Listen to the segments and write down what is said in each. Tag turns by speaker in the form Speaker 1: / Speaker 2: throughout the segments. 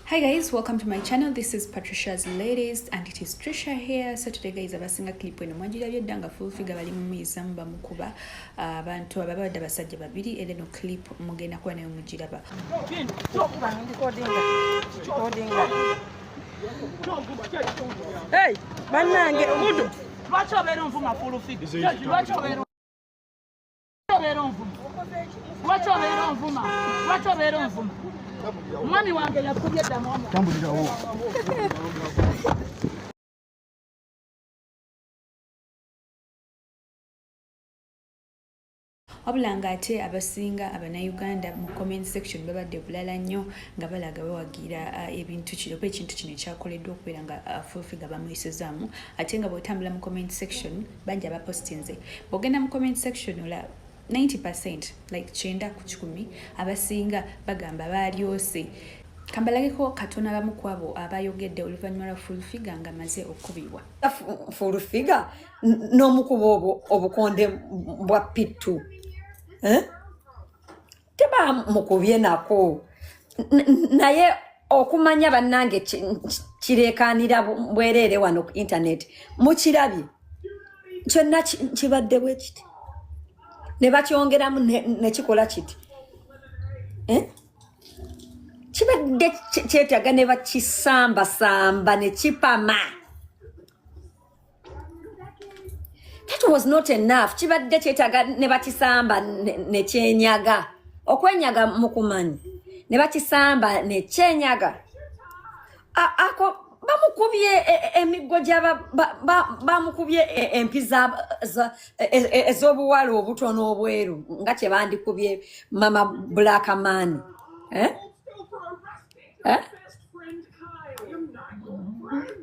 Speaker 1: Hi guys, welcome to my channel. This is Patricia's Ladies and it is Trisha here. So today guys, abasinga clip eno mwajirabye dda nga full figure bali mumiiza muba mukuba ah, abantu ababa badde abasajja babiri era eno clip mugenda kuba nayo mugiraba.
Speaker 2: Hey, bannange omuntu lwaki obeera onvuma full figure? Lwaki obeera obeera onvuma lwaki obeera onvuma lwaki obeera
Speaker 1: onvuma mwami wange yakubye ddamu omu wabula ng'ate abasinga abanauganda mu comment section babadde bulala nnyo nga balaga bawagira uh, ebintu kino kuba ekintu kino ekyakoleddwa okubeera nga uh, fulfiga bamuyisizaamu ate nga bw'otambula mu comment section bangi abapostinze bwogenda mu comment section olaba 90 percent like kyenda ku kikumi abasinga bagamba baalyose kambalageko katono abamu ku abo abayogedde oluvannyuma lwa fulfiga nga maze okukubibwa fulfiga
Speaker 3: n'omukuba obwo obukonde bwa pittu eh? teba mukubye nako naye okumanya bannange kireekaanira bwereere wano ku intaneti mukirabye kyonna kibadde bwe kiti ne bakyongeramu nekikola kiti eh? kibadde kyetaaga ne bakisambasamba ne kipama that was not enough kibadde kyetaaga ne bakisamba ne kyenyaga okwenyaga mukumanyi ne bakisamba ne kyenyaga ako bamukubye e, e, emiggo gyaba bamukubye e, empi ez'obuwala obutono obweru nga kye bandikubye mama black man eh? Eh?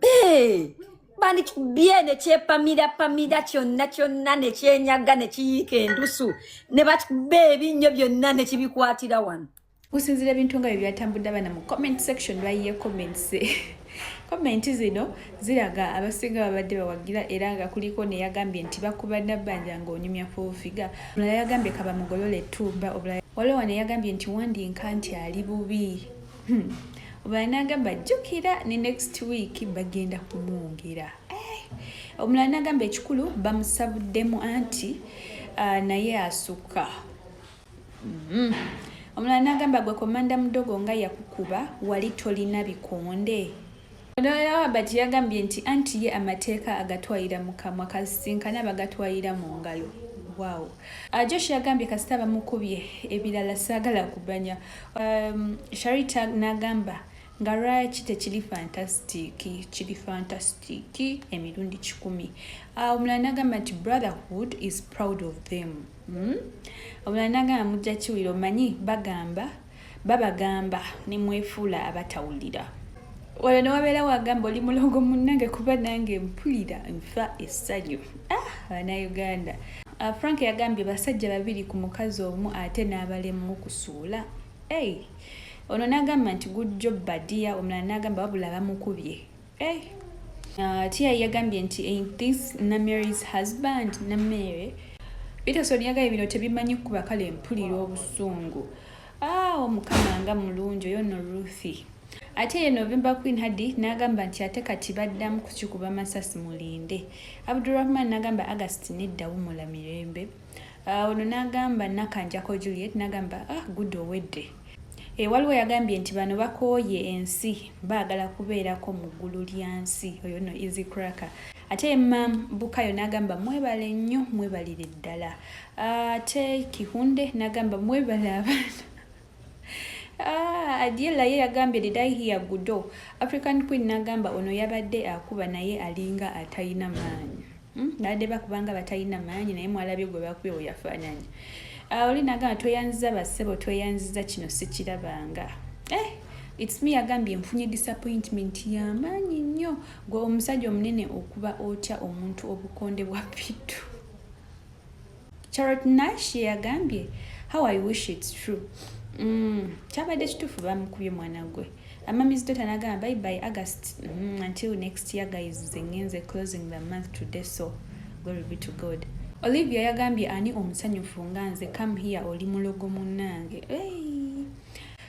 Speaker 3: Hey! bandikibye ne kyepamira pamira kyonna kyonna ne kyenyaga ne kiyiika endusu ne bakikuba ebinnyo byonna ne kibikwatira wano gusinzira ebintu nga
Speaker 1: bye byatambudde abana mu comment section lwayiye comments comment zino ziraga abasinga babadde bawagira era nga kuliko neyagambye nti bakuba nabbanja ngaonyumya fuufiga omulala yagambye kabamugolole etumba obulala waliwo neyagambye nti wandinka nti ali bubi hmm. obalanagamba jjukira ne next week bagenda kumwongera eh, omulala nagamba ekikulu bamusabuddemu anti ah, naye asukka hmm. omulala nagamba gwe komanda mudogo nga yakukuba wali tolina bikonde Looya wa Bati yagambye nti anti ye amateeka agatwalira mu kamwa kasisinkana abagatwalira mu ngalo. Wow. Uh, Josh yagambye kasita bamukubye ebirala saagala kubanya. Um, Sharita n'agamba nga lwaki tekiri fantasitiki kiri fantasitiki emirundi kikumi ah, omulala nagamba nti brotherhood is proud of them hmm? omulala nagamba mujja kiwira omanyi bagamba babagamba nemwefuula abatawulira olwo newabeera wagamba oli mulongo munange kuba nange mpulira nfa essanyu ah, banauganda ah, frank yagambye basajja babiri ku mukazi omu ate n'abalemu kusuula ei ono n'agamba nti gujjo badiya omulala n'agamba wabula bamukubye hey. Eh. Uh, tia yagambye nti ain't this namary's husband namere peterson yagaye bino tebimanyi kuba kale mpulira obusungu ah, omukama nga mulungi oyo no ruthi ate ye november queen hadi n'agamba nti ate kati baddamu kukikuba masasi mulinde abdurahman n'agamba agasti nedda wumula mirembe Ah, ono nagamba nakanjako juliet nagamba ah good owedde e, waliwo yagambye nti bano bakooye ensi baagala kubeerako mu ggulu lya nsi oyo no easy cracker ate mam bukayo nagamba mwebale nnyo mwebalire ddala ah, ate kihunde nagamba mwebale abaana Ah, Adiela ye yagambye did I hear gudo African Queen nagamba ono yabadde akuba naye alinga atayina maanyi hmm? baadde bakubanga batayina maanyi naye mwalabye gwe bakubye weyafaananyi ah, oli nagamba tweyanziza basebo tweyanziza kino sikirabanga eh, its me yagambye nfunye disappointment yamaanyi nnyo gwe omusajja omunene okuba otya omuntu obukonde bwa pitu Charlotte Nash yagambye how I wish it's true mm, kyabadde kituufu bamukubye mwana gwe amamizi dota nagamba by by august mm, until next year guys zengenze closing the month today so glory be to god olivia yagambye ani omusanyufu nga nze come here oli mulogo munange hey.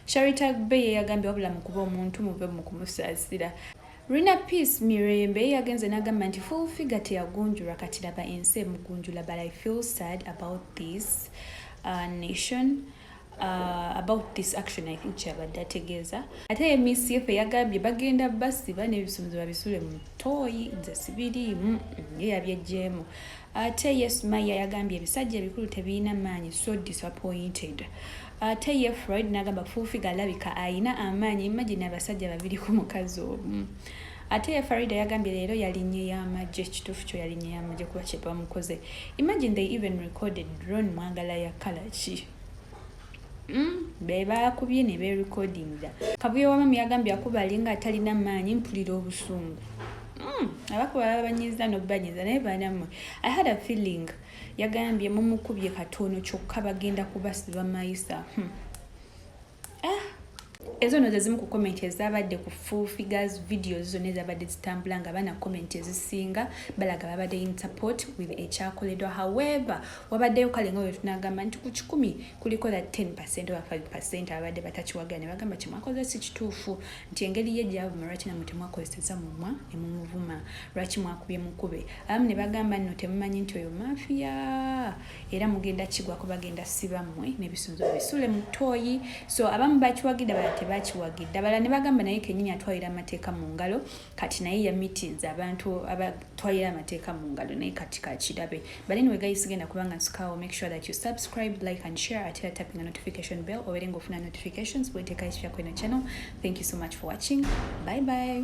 Speaker 1: sharita be yeyagambye wabula mukuba omuntu muve mukumusaasira Rina Peace Mirembe yagenze n'agamba nti Full Figure teyagunjulwa kati laba ensi emugunjula but I feel sad about this uh, nation uh, about this action I think kyabadde ategeeza ate ye miss yefe yagambye bagenda basiba n'ebisumuzi babisule mu tooyi nze sibiriimu mm, mm, ye yabyejjeemu ate yes maya yagambye ebisajja ebikulu tebirina maanyi so disappointed ate ye Freud nagamba fuufiga alabika ayina amaanyi imagine abasajja babiri ku mukazi omu ate ye Farida yagambye leero yalinye y'amagye kituufu kyo yalinye y'amagye kuba kye bamukoze imagine they even recorded drone mwagala ya kala ki mm, be bakubye ne berekodinga kabuye wamamu yagambye akuba alinga atalina maanyi mpulira obusungu mm, abakuba babanyiza nobanyiza naye banamwe i had a feeling yagambye mumukubye katono kyokka bagenda kubasiba mayisa hmm. ah! ezo no zezimu ku komenti ezabadde ku full figures videos zonna ezabadde zitambula nga baana komenti ezisinga balaga babadde in support with ekyakoledwa however wabaddeyo kale nga wetunagamba nti ku kikumi kuliko that 10 percent oba 5 percent ababadde batakiwagala ne bagamba kimwakoze si kituufu nti engeri ye gyavuma lwaki namwe temwakozeseza mumwa ne mumuvuma lwaki mwakubye mukube abamu ne bagamba nno temumanyi nti oyo mafiya era mugenda kigwa kubagenda siba mmwe n'ebisunzo bisule mu ttooyi so abamu bakiwagidde abala tebakiwagidde abala ne bagamba naye kenyini atwalira amateeka mu ngalo kati naye yamitinza abantu abatwalira amateeka mu ngalo naye kati kakirabe but anyway guys sigenda kubanga nsukaawo make sure that you subscribe like and share ate era tapping a notification bell obeere ng'ofuna notifications bweteeka ekipya kweno channel thank you so much for watching bye bye